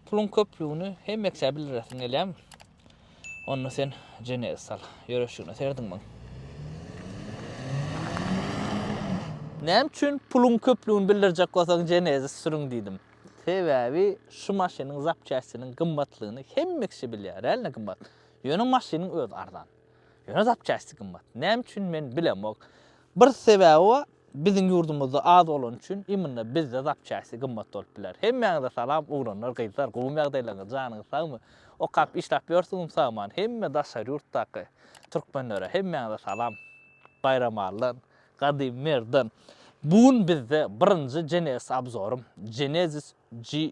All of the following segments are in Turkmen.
Puluň köplügini hemmeksä bildiresiň gelýärmi? Onda sen Jenezi sal. Ýöreşigine serediň muň. Näme üçin puluň köplügini bildirjek bolsaň Jenezi sürüň diýdim. Sebäbi şu maşynyň zapçastiniň gymmatlygyny hemmekşi bilýär. Realno gymmat. Ýöne maşynyň özi arzan. Ýöne zapçasty gymmat. Näme üçin men bilemok. Bir sebäbi bar, biziň ýurdumyzda az bolany üçin imенно bizde zapçasty gymmat bolup biler. Hemmäňize salam oglanlar gyzlar gowymy ýagdaýlaryňyz janyňyz sagmy okap işläp ýörsiňizmi sagman hemme daşary ýurtdaky türkmenlere hemmäňize salam Baýramalydan Gadymy Merdan bu gün bizde birinji Genesis abzorym Genesis G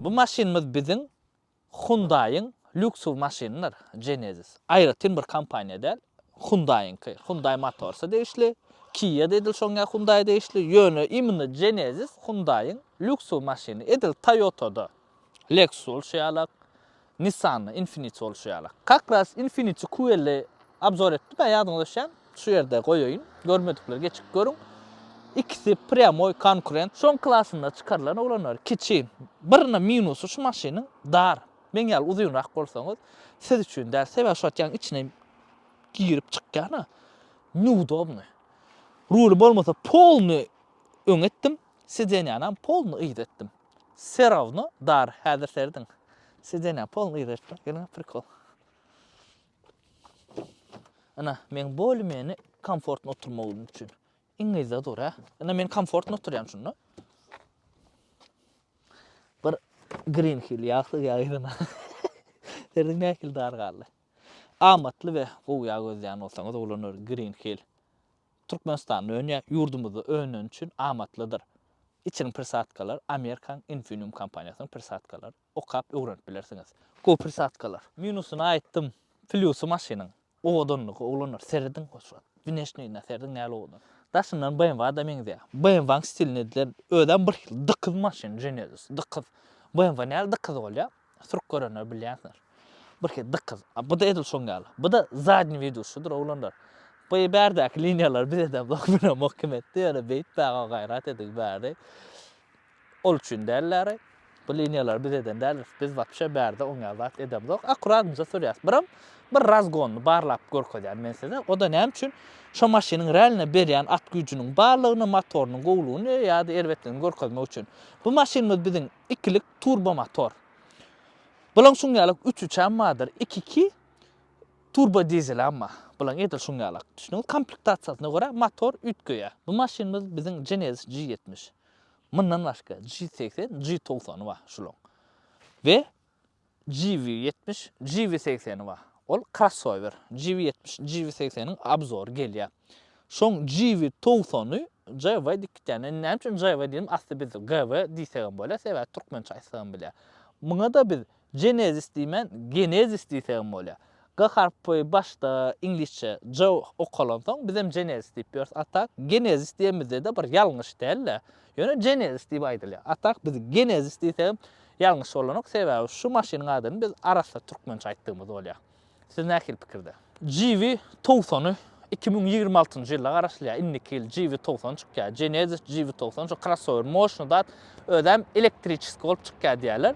Bu maşynymyz biziň Hyundai-yň lýuksuw maşynydyr, Genesis. Aýratyn bir kompaniýa däl, Hyundai-yňky. Hyundai Motors-a degişli, Kia-da edil şoňňa Hyundai degişli, ýöne imенно Genesis Hyundai-yň lýuksuw maşyny. Edil Toyota-da, Lexus şeýalak, Nissan-da Infiniti bolşy ýaly. Kak ras Infiniti QL-i abzor etdim, ä ýadyňyza düşýän. Şu ýerde goýaýyn, görmedikler geçip görüň. Ikisi prýamoý konkurent. Soň klasynda çykarylan oglanlar kiçi. Birine minusy şu maşynyň dar. Meň ýaly uzynrak bolsaňyz siz üçin däl. Sebäbi şu wagt ýaňy içine girip çykýan-a. Neudobny. Ruly bolmasa polny öňe etdim, sidenýanam polny yza etdim. Wse rawno dar häzir serediň. Sidenýa polny yza etmek gelňe prikol. Ina meň bolymeni komfortny oturmagym üçin. Iň yza dur hä. Ina men komfortny oturýan şunda. Bir green hill ýagsyz ýa yzyna. Serediň nähili dar galdy. Amatly we gowy ýa gözleýän bolsaňyz ulanur green hill. Türkmenistan öni ýurdumyzda önen üçin amatlydyr. Içiň prisadkalar Amerikaň Infineum kompaniýasynyň prisadkalary. Okap öwrenip bilersiňiz. Gowy prisadkalar. Minusyny aýtdym. Plýusy maşynyň owadanlygy oglanlar serediň hoşwagt. Wneşnýine serediň näl owadan. Daşyndan BMW-da meňzeýär. BMW-nyň stilini edilen özem bir hil dykyz maşyn Genesis dykyz. BMW näl dykyz bolýar. Türk görenler bilýänsiňiz. Birki dykyz. A bu-da edil şoň ýaly. Bu-da zadny widuşydyr oglanlar. Bu bärdäki liniýalar bize de bokuna mokim etdi. Ýöne beýtmäge gaýrat ediň bäri. Ol üçin dällary. Bu liniýalar biz eden däl. Biz wapşe bärde oňýan zat edemzok. Akkuratmyza sürýäs. Biram bir razgonyny barlap görkezýän men size. O-da näme üçin? Şo maşynyň realne berýän at güýjüniň barlygyny, motorynyň gowlugyny ýa-da erbetligini görkezmek üçin. Bu maşynymyz biziň Ikilik turbomotor. Bulaň şuň ýalak üç üçem bardyr, iki iki turbodizelem bar. Bulaň edil şuň ýalak. Düşdüňiz? Komplektasiýasyna görä motor üýtgeýär. Bu maşynymyz biziň Genesis G ýetmiş. Mundan başga G segsen, G togsan bar şulaň. We Jivi ýetmiş, Jivi segseni bar. Ol krossower. Jivi ýetmiş, Jivi segseniň obzory gelýär. Şoň Jivi togsany JW diýip gitýän. Indi näme üçin JW diýdim, asly biz GW diýsegem bolýar, sebäbi türkmençe aýtsagam bilýär. Muňa-da biz Genesis diýmän, Genesis diýsegem bolýar. G harpy başda iňlisçe J okalansoň bizem Genesis diýip ýörüs a tak Genezis diýemizde-de bir ýalňyş däl-de, ýöne Genesis diýip aýdylýar. A tak biz Genezis diýsegem ýalňyş bolanok, sebäbi şu maşynyň adyny biz arassa türkmençe aýtdygymyz bolýar. Siz nähili pikirde? Jivi towsany Iki müň ýigrimi altynjy ýyla garaşylýar. Indiki ýyl GV togsan çykýar. Genesis GV togsan şu krossower moşny zat özem elektriçeski bolup çykýar diýýärler.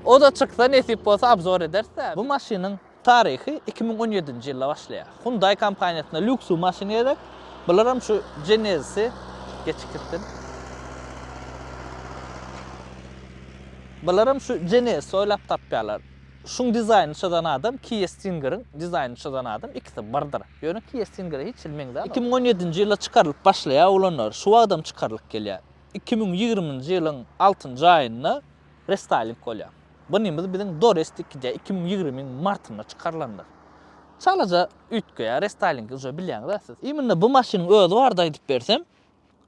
O da çyksa nesip bolsa obzor ederis. Bu maşynyň taryhy iki müň on ýedinji ýylda başlaýar. Hyundai kompaniýasyna lýuksuw maşyn gerek. Bularam şu Genesisi geçip gitsin. Bularam şu Genesisi oýlap tapýarlar. Şuň dizaýnyny çyzan adam Kia Stingeriň dizaýnyny çyzan adam ikisi birdir. Ýöne Kia Stingere hiç hili meňzäl. Iki müň on ýedinji ýylda çykarylyp başlaýar ulanary, şu wagtam çykarylyp gelýär. Iki müň ýigriminji ýylyň altynjy aýynda restaýling bolýar. Bunimiz biziň Dorest ikide iki müň ýigrimiň martynda çykarylandyr. Çalaja üýtgeýär restaýlingi uje bilýäňizä siz. Imенно bu maşynyň özi barada aýdyp bersem,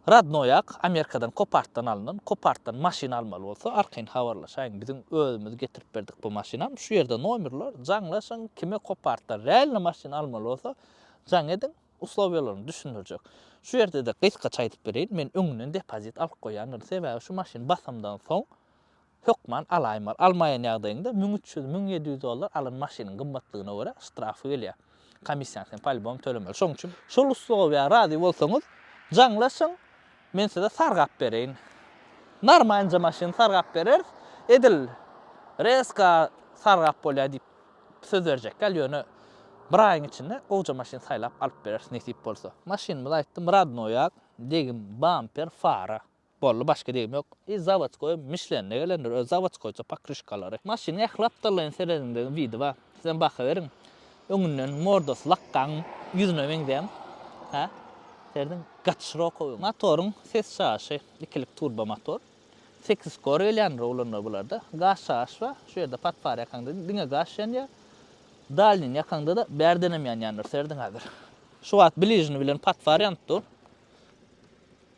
Radnoýak Amerikadan kopartdan alnan, kopartdan maşyn almaly bolsa arkaýyn habarlaşaýyň biziň özümiz getirip berdik bu maşynam şu ýerde nomerler jaňlaşyň kime kopartdan realny maşyn almaly bolsa jaň ediň uslowiýalaryny düşündirjek şu ýerde-de gysgaça aýdyp bereýin men öňünden depozit alyp goýýandyryn sebäbi şu maşyn basamdan soň Hökman alaýmaly. Almaýan ýagdaýyňda müň üç ýüz, müň ýedi ýüz dollar alan maşynyň gymmatlygyna görä ştrafy gelýär. Komissiýany sen polibom tölemeli. Şoň üçin. Şol usluba bir razy bolsaňyz, jaňlaşyň, men size sargap bereýin. Narmaýynja maşyny sargap bereris. Edil rezka sargap bolýar diýip söz berjek däl, ýöne bir aýyň içinde gowja maşyn saýlap alyp bereris nesip bolsa. Maşynymyz aýtdym, radnoýak, degim, bamper, fara. Boldy başga degim ýok. I zawodskoý mişlende gelendir öz zawodskoýça pokrişkalary. Maşynyň ähli gapdallaýyn serediňde widi bar. Sizem baha beriň. Öňünden mordasy lakgaň ýüzüne meňzän. Hä? Serediň gaty şirokowy. Motoryň ses çaýyşy ikilik turbo motor. Sekiz kor gelýändir oglanlar bularda. Gaz çaýyş bar. Şu ýerde patfar ýakaňda diňe gaz ýanýar. Dalnyny ýakaňda-da bärdenem ýanýandyr. Serediň häzir. Şu wagt bližny bilen patfar ýanyp dur.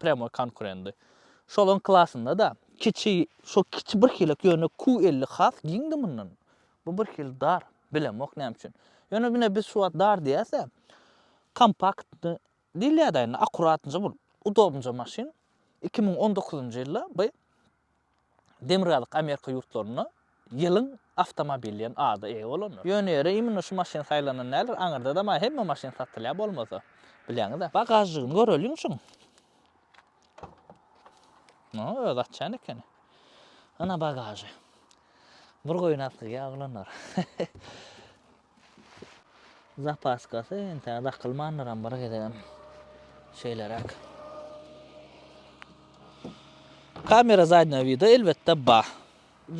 Prýamoý konkurendy. Şolaryň klasynda-da kiçi, şo kiçi birhilek, ýöne Q elli has giňdi mundan. Bu birhili dar, bilemok näme üçin. Ýöne ine biz şu wagt dar diýäs-ä, kompaktny diýilýär-dä indi, akkuratnyja bolup, udobnyja maşyn. Iki müň on dokuzynjy ýylda by Demirgazyk Amerika ýurtlarynda Ýylyň awtomobili diýen ada eýe bolandyr. Ýöne ýere imенно şu maşyn saýlanan däldir, aňyrda-da maý hemme maşyn satylýar bolmasa. Bilýäňiz-ä. Bagažnigyny göreliň şuň. Muny özi açýan ekeni. Ana bagažy. Bir goýun asygy ýa oglanlar. Zapaskasy entäk dakylmandyram bir gezegem. Şeýleräk. Kamera zadnýa wida elbetde ba.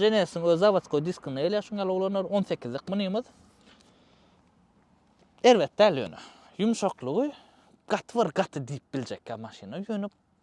Jenesiň öz zawaskoý diskinde gelýär şuň ýaly oglanlar on sekizlik munymyz. Erbet däl ýöne. Ýumşaklygy gaty bir gaty diýip biljekkä maşyna ýöne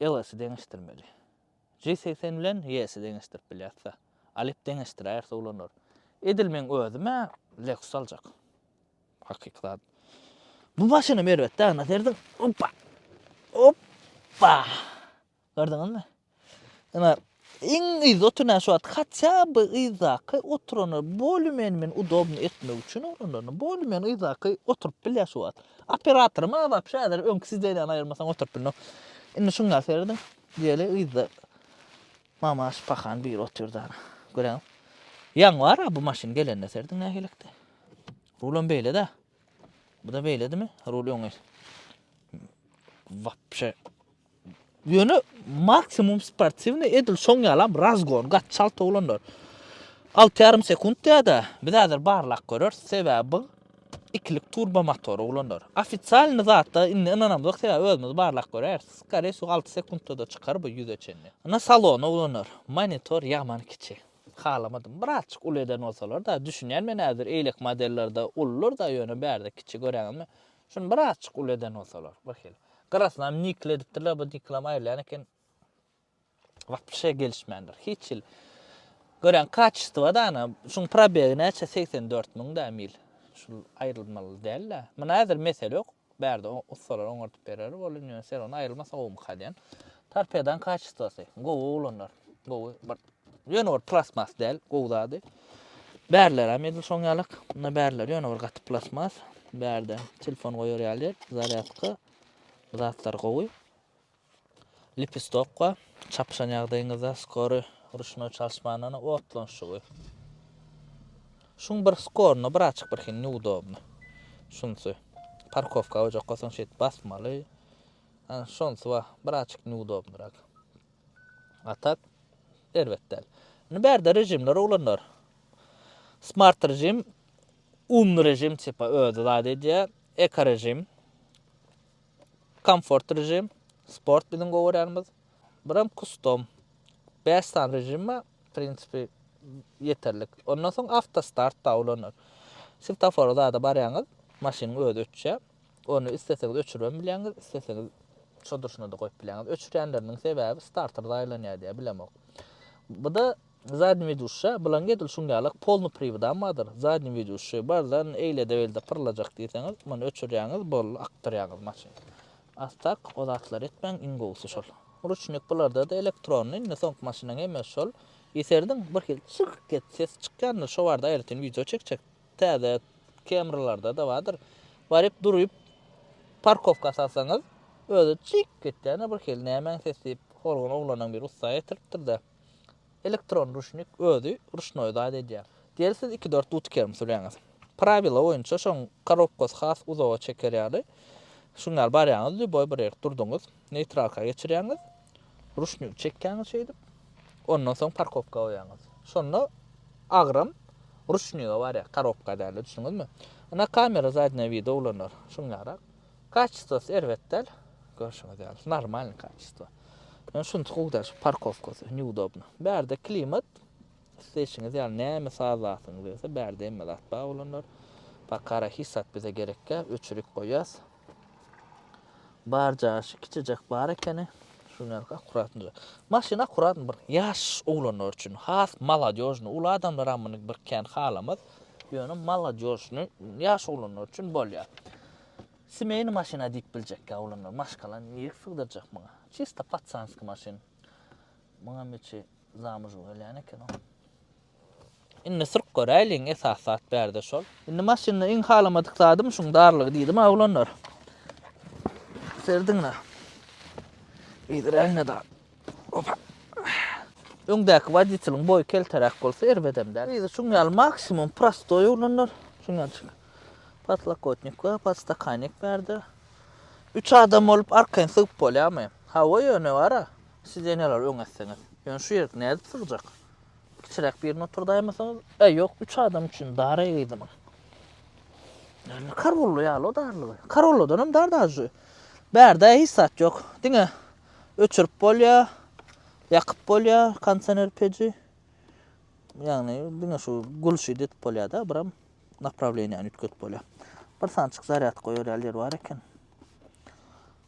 Ls-i deňeşdirmeli. J segsen bilen Y-si deňeşdirip bilýäs-de. Alyp deňeşdiräýerse ulanar. Edil meň özüm-ä Lexus aljak. Hakyky zat. Bu maşynam erbet däl, nasy erdiň? Oppa! Oppa! Gördüňizmi? Ine, Iň yzda oturan şu wagt hatça by yzdaky oturana bolü men men udobny etmek üçin oranlaryna bolü men yzdaky oturyp bilýär şu wagt. Operatory maňa wapşe häzir öňki sidenýany aýyrmasaň oturyp bilnok. Indi şuňa serediň diýeli yzda Mamaş pahan biri otyrdy ana. Göräňiz. Ýaň bar-a bu maşyn gelende serediň nähilekde. Rulam beýle-dä. Buda beýledimi? Rul öňe. Wapşe Ýöne maksimum sportiwnyý edil şoň ýalam razgon gaty çalt oglanlar. Alty ýarym sekunt diýýärda, biz häzir barlap göreris, sebäbi bu ikilik turbo motor oglanlar. Ofisialnyý zatda indi ynanamzok sebäbi özümiz barlap göräýeris. Skoriýe şu alty sekuntda-da çykar bu ýüze çenli. Ynha salony oglanlar, monitor ýaman kiçi. Halamadym. Birazçyk uly eden bolsalar-da, düşünýän men häzir eýlek modellerde ulular-da ýöne bärde kiçi göräňizmi? Şuny birazjyk uly eden bolsalar, wekil. Gyrasynam nikl edipdirler, bu niklam aýrylýan eken. Wapşe gelişmändir. Hiç hil. Görän kaçystywa da ana, şuň probegi näçe 84 müň da mil. Şul aýrylmaly däl-de. Muna häzir mesele ýok. Bärde ussalar oňardyp berer, bolýan ýöne sen ony aýrylmasa gowumyka diýen. Torpedan kaçystywasy. Gowy oglanlar. Gowy bir Ýöne ol plastmas däl, gowy zady. Bärlerem edil şoň ýalak. Munda bärler ýöne bir gaty plastmas. Bärde telefon goýar ýaly ýer, zarýadka. Bu zatlar gowy. Lipistokga çapyşan ýagdaýyňyzda skory ruşnoý çalyşmandan otlanşygy. Şuň bir skoruna bir açyk bir hin neudobny. Şunsy. Parkowka goýjak bolsaň şeýdip basmaly. Şonsy wah, bir açyk neudobnyrak. A tak erbet däl. Indi bärde režimler uglanlar. Smart režim, umly režim tipa özi zat edýär. Eko režim, komfort režim, sport biziň gowaranymyz. Biram kustom. 5 san režim bar. Prinsipi yeterlik. Ondan soň avtostart da ulanır. Swiftofora zada barýaňyz, maşynyň özi öçýär. Ony isleseňiz öçüribem bilýäňiz, isleseňiz şo durşuna-da goýup bilýäňiz. Öçürýänleriniň sebäbi starter zaýalanýar diýýär, bilemok. Bu-da zadni widýuşşa, bulaň edil şuň ýaly polny priwodam bardyr. Zadni widýuşşy bardan eýlede-beýlede pyrlajak diýseňiz, muny öçürýäňiz, boldy, akdyrýaňyz maşyny. A tak, o zatlary etmäň, iň gowusy şol. Ruçnik bularda-da elektronny, indi soňky maşynyň hemmesi şol. Eserdiň, birhili çyrk-et ses çykýandyr, şo barada aýratyn wideo çekjekdim. Täze Camry-larda-da bardyr. Baryp duryp parkowka salsaňyz, özi çyk etýär-de birhili nämäň sesi diýip, horgun oglanam bir ussa getiripdir-de, elektron ruşnik özi ruşnoý zat edýär. Diýeli siz iki-dört duty kerm sürýäňiz. Prawila boýunça şoň korobkasy has uzaga çeker ýaly, şuň ýaly barýaňyz, lýuboý bir ýerik durduňyz, neýtralka geçirýäňiz, Ruşnik çekýäňiz şeýdip. Ondan soň parkopka goýýaňyz. Şonda agram ruşnige barýar, korobka däl, düşündiňizmi? Ine kamera zadnýa wideo ulanýar. Şuňňarak. Kaçistosy erbet däl. Görşüňiz ýaly, normalny kaçisto. Ýöne şunysy gowy däl, şu parkowkasy, neudobny. Bärde klimat, isleýşiňiz ýaly näme sazlasyňyz gelse, bärde hemme zat bar bolanlar. Bakara hiç zat bize gerekkä, öçürik goýýas. Bar jaşy kiçijek bar ekeni. Şuňňalka akkuratnyja. Maşyn akkurat bir ýaş oglanlar üçin has maladýožnyý. Uly adamlaram muny bir kän halamaz. Ýöne maladýožnyý ýaş oglanlar üçin bolýar. Semeýnyý maşyna diýip biljekkä oglanlar. Maşgalany nirek sygdyrjak muňa? Çista patsanski maşyn. Muňam içi zamužu gelýän ekeni. Indi syrt göräýliň, esasy zat bärde şol. Indi maşynda iň halamadyk zadym şuň darlygy diýdim-ä oglanlar. Serediň-le. Iýdiräýiň-le dal. Opa. Öňdäki woditeliň boýy kelteräk bolsa erbedem däl. Yzy şuň ýaly maksimum prostoý oglanlar. Şuň ýalyjyk. Podlokotnik we podstakanik bärde. Üç adam bolup arkaýyn sygyp bolýarmy? Hawa ýöne bar-a. Sideniýalary öňe etseňiz. Ýöne şu ýerik nädip sygjak? Kiçiräk birini oturdaýmasaňyz? Äý, ýok, üç adam üçin dar eýgidim. Näme karolla ýaly o darlygy? Karolladan hem dar dažy. Bärde hiç zat ýok. Diňe öçürip bolýar, ýakyp bolýar kondisioner peji. Ýagny diňe şu gulşy edip bolýar-da, biram naprawleniýäni üýtgedip bolýar. Bir sançyk zarýadka goýar ýaly ýer bar eken.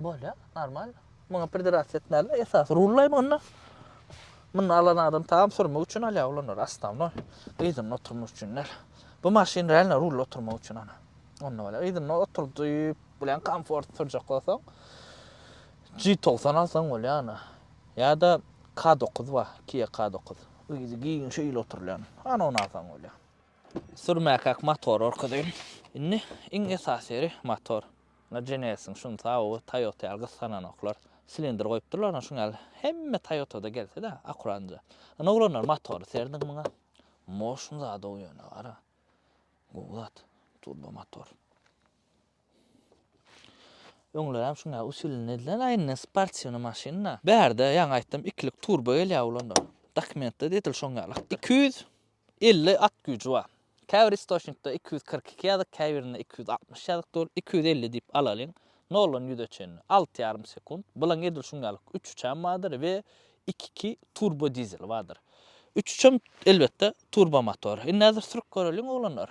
Bolya normal. Muňa pridrasya etmäliler esasy rullaý munda. Muny alan adam tam sürmek üçin alýar ulanary astamnoý. Yzynda oturmak üçin däl. Bu maşyn realno rulda oturmak üçin ana. Onda bolýar. Yzynda oturdyp bilen komfort sürjek bolsaň G90 alsaň bolýar ana. Ýa-da K9 bar, Kia K9. Yzy giň şeýle oturylýan. Ana ony alsaň bolýar. Sürmäkäk motor görkezeýin. Indi iň esasy ýeri motor. Ynha Genesis-iň şuny taby Toyota ýaly gysgananoklar. Silindr goýupdyrlar ynha şuny ýaly. Hemme Toyota-da gelse-de akuranca. Ynha oglanlar motory serdiň muňa. Motion zad-ow ýöne gara. Gowy zat. Turbo motor. Öňlerem şuň ýaly usilini edilen, a indi sportiwnyý maşyn-da. Bärde ýaňy aýtdym ikilik turbo gelýär oglanda. Dokumentde-de edil şoň ýaly. Iki ýüz Elli at güýji bar. Käbir istoçnikde iki ýüz kyrk iki ýazyk, käbirinde iki ýüz altmyş ýazyk dur. Iki ýüz elli diýip alalyň. Noldan ýüze çenli, alty ýarym sekunt. Bulaň edil şuň ýaly üç uçany bardyr we iki iki turbo dizeli bardyr. Üç uçan, elbetde, turbo motor. Indi häzir sürüp göreliň, oglanlar.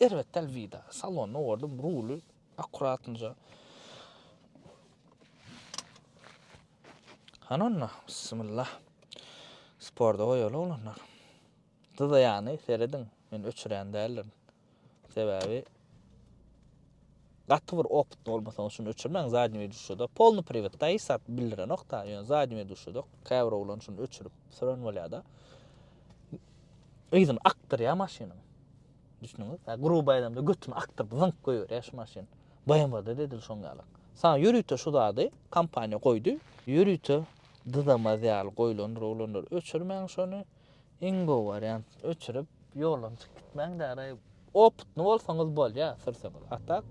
Erbet däl wida. Salonda gördüm, ruly akkuratnyja. Hany onda, bismillah. Sporda goýaly oglanlar. Dyzaýany serediň, men öçürýän däldirin. Sebäbi Gaty bir opytny bolmasaňyz şuny öçürmäň zadni weduşada polny priwet da hiç zat bildirenok da ýöne zadni weduşada käbir oglan şuny öçürip süren bolýada yzyny akdyrýa maşynyň düşnüňiz ha gruba aýdamda götüni akdyryp zyňk goýberýä şu maşyn BMW-da dedil şoň ýaly saňa ýörite şu zady kompaniýa goýdy ýörite dyzamaz ýaly goýlandyr oglanlar öçürmäň şony Iň gowy wariant öçürip ýoldan çykyp gitmäň däraý opytny bolsaňyz bolýa sürseňiz a tak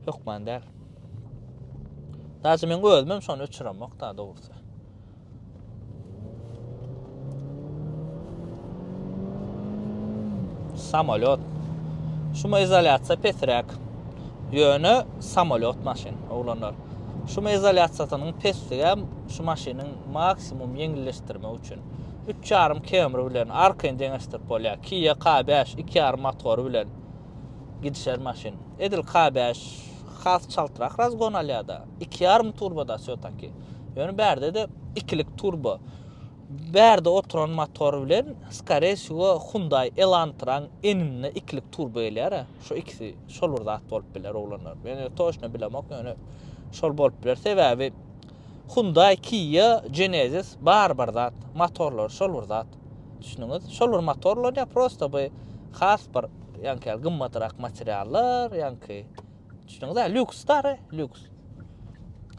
hökman däl. Daşy meň özümem şony öçüremok da dogrusy. Samolýot. Şuma izolýasiýa pesräk. Ýöne samolýot maşyn, oglanlar. Şuma izolýasiýasynyň pesligem şu maşynyň maksimum ýeňilleşdirmek üçin. Üç ýarym Camry bilen arkaýyn deňeşdirip bolýar. Kia K bäş iki ýarym motory bilen gidişer maşyn. Edil K bäş has çaltrak razgon alýar-da. Iki ýarym turbo-da wsýotaki. Ýöne bärde-de ikilik turbo. Bärde oturan motor bilen skore wsýo Hyundai Elantra-nyň egninde ikilik turbo gelýär-ä. Şo ikisi şol bir zat bolup biler oglanlar. Men toçno bilemok ýöne şol bolup biler. Sebäbi Hyundai, Kia, Genesis bary bir zat, motorlary şol bir zat. Düşündüňiz? Şol bir motor ulanýar, prosta bu has bir ýaňky ýaly gymmatrak materiallar, ýaňky düşündüňizä, lýuks dary, lýuks.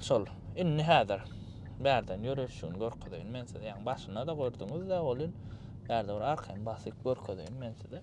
Şol. Indi häzir bärden ýöreşigini görkezeýin men size. Ýaňky başynda-da gördüňiz-de, welin bärde bir arkaýyn basyp görkezeýin men size.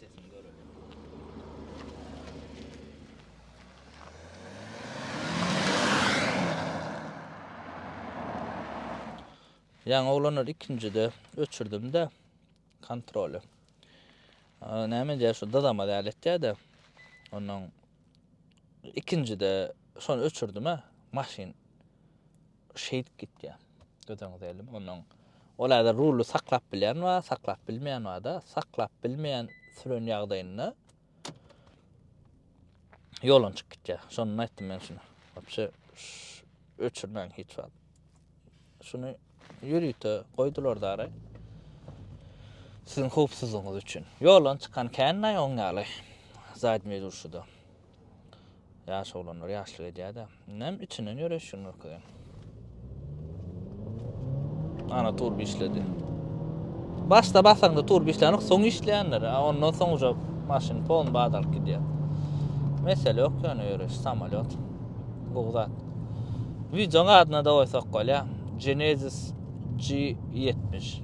Sesini göreli. Ýaňy oglanlar ikinjide öçürdimde kontroly. Näme diýär şu dydama däl etýär-de. Ondan ikinjide şony öçürdüm-ä, maşyn Şeýdip gitýär. Gözüňize ilim onuň. Ol häzir rully saklap bilýän bar, saklap bilmeýän bar-da. Saklap bilmeýän süren ýagdaýynda ýolun çykyp gitýär. Şondan aýtdym men şuny. Wapşe öçürmäň hiç wagt. Şuny ýörite goýdular dary. Siziň howpsuzlygyňyz üçin. Ýolun çykan kän naý oň ýaly. Zadnyý durşuda. Ýaş oglanlar ýaşlyk edýär-dä. Näme içinden ýöreýiş şu Nurküziň? Ana turba işledi. Başda basaňda turba işlänok, soň işleýänler. A ondan soň uje maşyn polny bad alyp gidýär. Mesele ýok ýöne ýöreýiş, samolyot. Gowy zat. Wideoň adyna da goýsak bolýar. Genesis G70.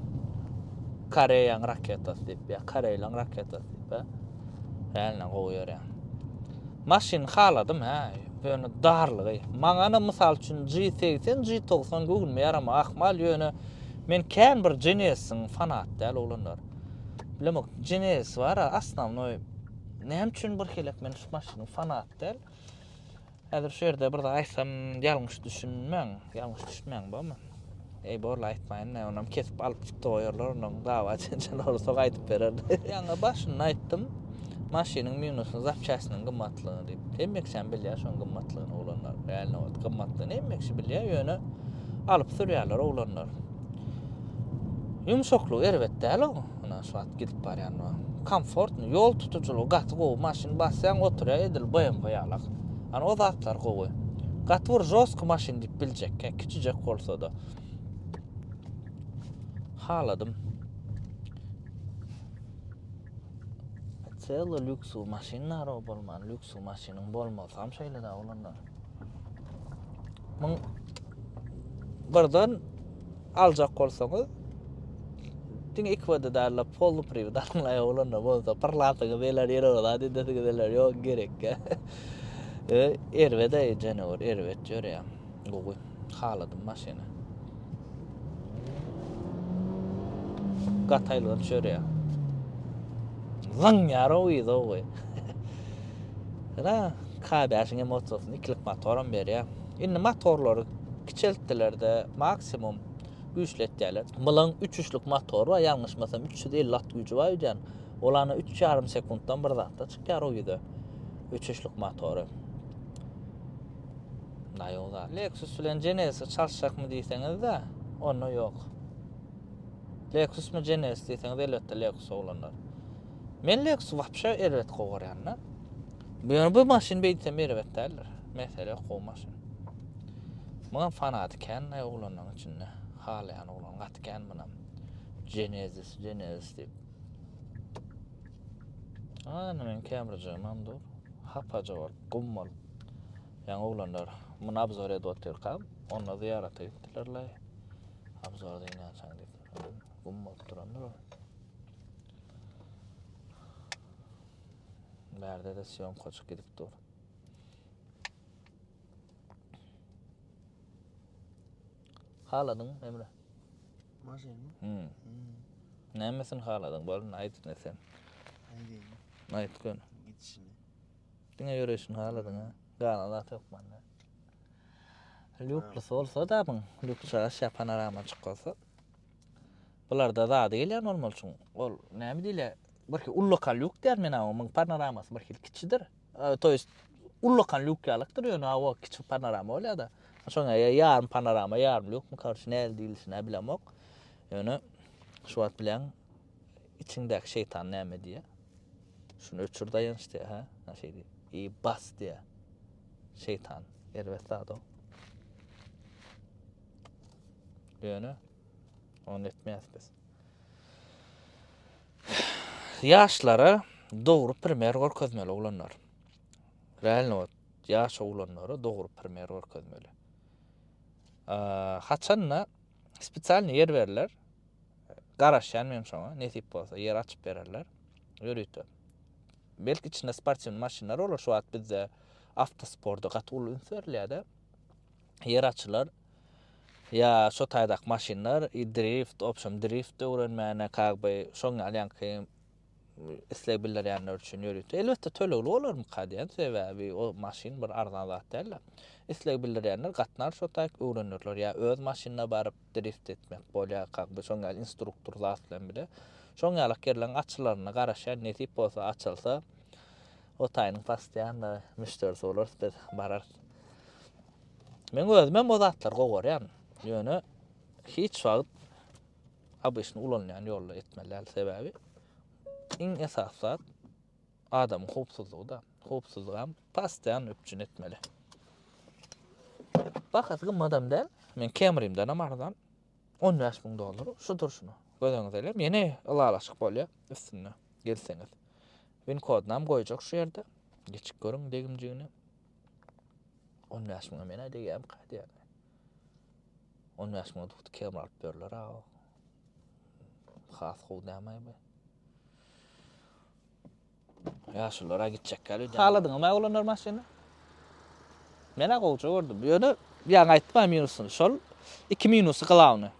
Koreýaň raketasy diýip, ýa Koreýlaň raketasy diýip. Ýäne gowy ýörýär. Maşyny haladym hä, ýöne darlygy. Maňana mysal üçin G80, G90 göwnüme ýaramagy ahmal, ýöne men kän bir Genesis-iň fanaty däl oglanlar. Bilemok, Genesis bar, asnawnoý näme üçin birhili men şu maşynyň fanaty däl. Häzir şu ýerde bir zat aýtsam ýalňyş düşünmäň, ýalňyş düşmäň barmy? Eý borla aýtmaýyn näme onam kesip alyp çykdy goýarlar onam dawa jenjel bolsa gaýdyp berer. Ýaňy başynda aýtdym maşynyň minusy zapçastynyň gymmatlygyny diýip. Hemme kişäm bilýär şoň gymmatlygyny oglanlar. Realno ot gymmatlygyny hemme kişi bilýär ýöne alyp sürýärler oglanlar. Ýumşaklygy erbet däl oň. Ynha şu wagt gidip barýan wah. Komfortny, ýol tutujylygy gaty gowy, maşyn basýaň oturýa edil BMW ýalak. Hany o zatlar gowy. Gaty bir žostky maşyn diýip biljek, he kiçijek bolsada. Haladym. Celo lýuksy maşyn narow bolman, lýuksy maşynyň bolmazam şeýle da bolanda. Muň birden aljak bolsaňyz diň iki wada darla polny priwit almaly ýolunda bolsa bir latyňy beler ýere ola diýdi siz geler ýok gerekkä e, erbet aý jenewar erbet ýörýär gowy haladym maşyny Gataýlyga düşerýär. Zyň ýara uýda goý. Ýa K5-iň hem otursyn, ikilik motor hem berýär. Indi motorlary kiçeltdiler-de, maksimum güýçletýärler. Mylyň üç üçlük motory bar, ýalňyşmasam 350 at güýji bar öýdýän. Ol ana 3,5 sekuntdan bir zatda çykýar uýda. Üç üçlük motory. Naýow zat. Lexus bilen Genesis çalyşjakmy diýseňiz-de, onda ýok. Lexusmy Genesis diýseňiz, elbetde Lexus oglanlar. Men Lexus wapşe erbet gowy görýän-de. Ýöne bu maşyn beýtsem erbet däldir. Mesele ýok, gowy maşyn. Muňam fanaty kän naý oglanlaryň içinde. Halaýan oglan gaty kän munam. Genesis, Genesis diýip. Ana men kämrjigimem dur. Hapaja bolup, gum bolup. Ýaňy oglanlar muny abzor edip otyrka, onda zyýarata gitdilerlaý. Abzor deýin ýançaň diýip, gum bolup durandyr ol. Bärde-de sýomkaçyk gidip dur. Haladyň, Emre? Maşynymy? Hmm. Hmm. Nämesini haladyň? Bolun, aýt indi sen. Aýdaýyn. Aýt gör. Gidişini. Diňe ýöreýşini haladyň-a. Gala zat ýok mende. Lýuklusy bolsa-da muň, lýuks çaş ýa panorama açyk bolsa. Bularda zady gelýän bolmaly çuň. Ol näme diýilýär? Birki ullakan lýuk diýýän men awa, muň panoramasy birhili kiçidir. To ýest ullakan lýuk ýalykdyr ýöne awa kiçi panorama bolýar-da. Şoňa ýa ýarym panorama, ýarym lýukmy, korçe nähili diýilişini-ä bilemok. Ýöne şu wagt bilen Içiňdäki şeýtan näme diýýär? Şuny öçür daýanç diýýär, hä? Ana şeý diýýär. I bas diýýär. Şeýtan erbet zat-ow. Ýöne ony etmeýäs biz. Ýaşlara dogry primer görkezmeli oglanlar. Realno wagt ýaş oglanlara dogry primer görkezmeli. Haçanda spesialny ýer berler. Garaşýan men şoňa, nesip bolsa ýer açyp bererler. Ýörite. Belki içinde sportiwny maşynlar bolar şu wagt bizde awtosporda gaty uly üns berilýär-de. Ýer açylar. Ýa şu taýdak maşynlar, drift, opşam drift öwrenmäne, kagby, şoň ýaly ýaňky isleg bildirýänler üçin ýörite, elbetde tölegli bolarmyka diýen, sebäbi o maşyn bir arzan zat däldi. Isleg bildirýänler gatnar şo taýk öwrenirler ýa öz maşynda baryp drift etmek bolýar kak bu şoň ýaly instruktor zat bilen bile. Şoň ýalak ýerleriň açylaryna garaşýan nesip bolsa açylsa o taýynyň pastianna müşderisi bolarys biz bararys. Men özüm hem o zatlary gowarýan. Ýöne hiç wagt Obysny ulanylýan ýolda etmeli däl, sebäbi iň esasy zat adamyň howpsuzlygy-da. Howpsuzlygam postoýan üpjün etmeli. Bahasy gymmadam däl. Men Kemrimdenem arzan. 15 müň dollar şu durşuna. Göz öňüňize elem, ýene ylalaşyk bolýar üstünde gelseňiz. Win kodynam goýjak şu ýerde. Geçip görüň degimjigini. 15 müňe men-ä degýärmika diýýän. On bäş müňe duhty kebap alyp berler aga. Has gowy dämaý bu. Ýaşulara gitjek gal öýden. Haladyňmy aga olanlar maşyny? Men a gowja gördüm. Ýöne ýaňy aýtdym a minusyny. Şol iki minusy glawny.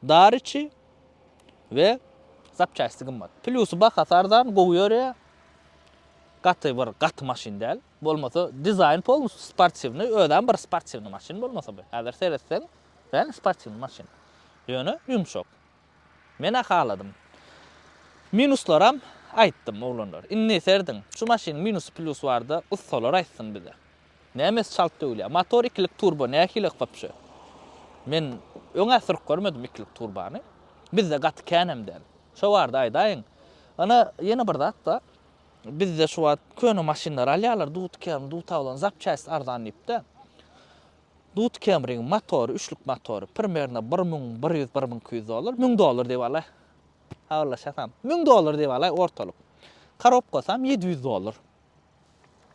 Dar içi we zapçasti gymmat. Plýusy bahasy arzan, gowy ýörýär. Gaty bir gaty maşyn däl. Bolmasa dizaýn polnusy sportiwnyý özem bir sportiwnyý maşyn bolmasa bu häzir seretseň kän sportiwnyý maşyn ýöne ýumşak menä haladym minuslaram aýtdym oglanlar indi serediň şu maşynyň minusy plýusy barda ussalar aýtsyn bize nämesi çalt döwülýär motor ikilik turbo nähiliýak wapşe men öňä sürüp görmedim ikilik turbany bizde gaty känem däl şo barda aýdaýyň ana ýene bir zatda Bizde şu wagt köne maşynlary alýarlar, dutkem, dutawlan zapçast arzan diýip-de. Dutkemriň motory, üçlük motory primerno bir müň bir ýüz, bir müň iki ýüz dollar, müň dollar diýip alaý. Habarlaşasam, müň dollar diýip alaý ortalyk. Korobkasam ýedi ýüz dollar.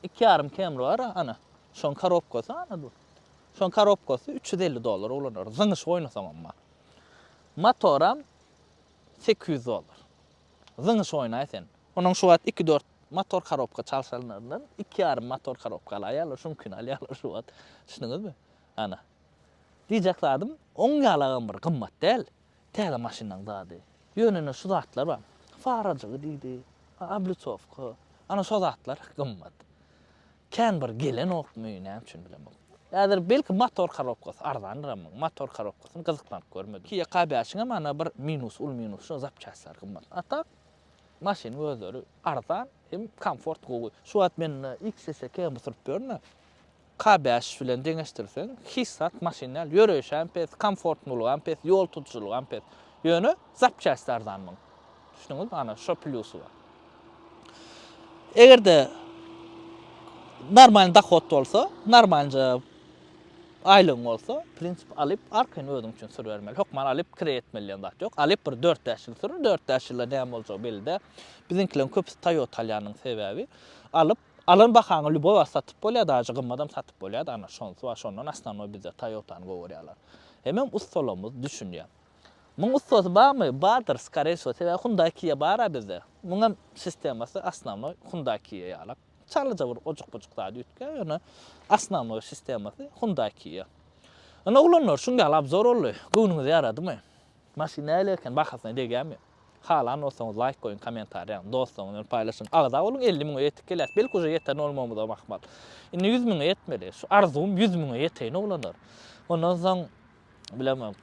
Iki ýarym kemri bar, ana, şoň korobkasy, ana, dur. Şoň korobkasy üç ýüz elli dollara ulanarys, zyňyşyp oýnasaňam bar. Motoram sekiz ýüz dollar. zyňyş oýnaý sen. Onuň şu wagt iki dört motor korobka çalşanlaryndan iki ýarym motor korobka alaýýarlar, şuňkini alýarlar şu wagt. Düşdüňizmi? Ana. Diýjek zadym, oň ýalagam bir gymmat däl, täze maşynyň zady. Ýöne ine şu zatlar bar. Farajygy diýdi, oblitsowka, ana şo zatlar gymmat. Kän bir gelenokmy, näme üçin bilemok. Häzir belki motor korobkasy arzandyram muň. Motor korobkasyny gyzyklanyp görmedim. Kia K bäşiňem ana bir minusy, uly minusy şo zapçastlary gymmat. A tak maşynyň özleri arzan hem komfort gowy. Şu wagt mende XSK hem oturyp ýörün-ä. K bäş bilen deňeşdirseň hiç zat maşyn däl. Ýöreýşem pes, komfortnulygam pes, ýol tutujylygam pes. Ýöne zapçasty arzan muň. Düşündüňizmi? Ana, şo plýusy bar. Eger-de normalny dohod bolsa, normalnja aýlygyň bolsa, prinsip alyp, arkaýyn özüň üçin sür bermeli. Hökman alyp kire etmeli diýen zat ýok. Alyp bir 4-5 ýyl sür, 4-5 ýylda näme boljagy belli däl. Biziňkileriň köpüsi Toyota alýanyň sebäbi, alyp, alan bahaňa lýuboý wagt satyp bolýar, daže gymmadam satyp bolýar-da, ana, şonsy bar. Şondan osnanoý bizde Toyota-ny gowy görýärler. Hemem ussalamyz düşünýär. Muň ussasy barmy? Bardyr skareý so sebäbi hundaý kia bara bizde. Muň hem sistemasy asnawnoý hundaý kia ýalak. Çalaja bir ojuk bujuk zat üýtgär ýöne asnawnoý sistemasy hundaý kia. Ine oglanlar şuň ýaly abzor boldy. Göwnüňize ýaradymy? Maşyn näle eken bahasyna degýärmi? Halan bolsaňyz laýk goýuň komentariýa ýazyň dostlaryňyz bilen paýlaşyň. Agza boluň elli müňe ýetip gelýäs belki uje ýeten bolmagymyzam ahmal. Indi ýüz müňe ýetmeli. Şu arzuwym ýüz müňe ýeteýin oglanlar. Ondan soň bilemok,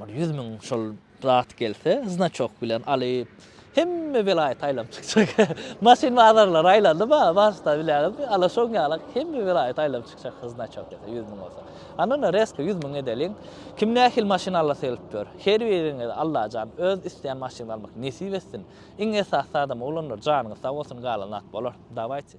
bir ýüz müň şol zat gelse, znaçok bilen alyp, hemme welaýat aýlanyp çykjak. Maşyn bazarlary aýlandy ba, başda bileňizmi, ala şoň ýalak hemme welaýat aýlanyp çykjak şol znaçok gelse, ýüz müň bolsa. Anna-da reska ýüz müň edeliň, kim nähili maşyn alasy gelip ýör, her biriňize Allajan öz isleýän maşynyňyzy almak nesip etsin. Iň esasy zadam oglanlar janyňyz sag bolsun galan zat bolar. Dawaýçy.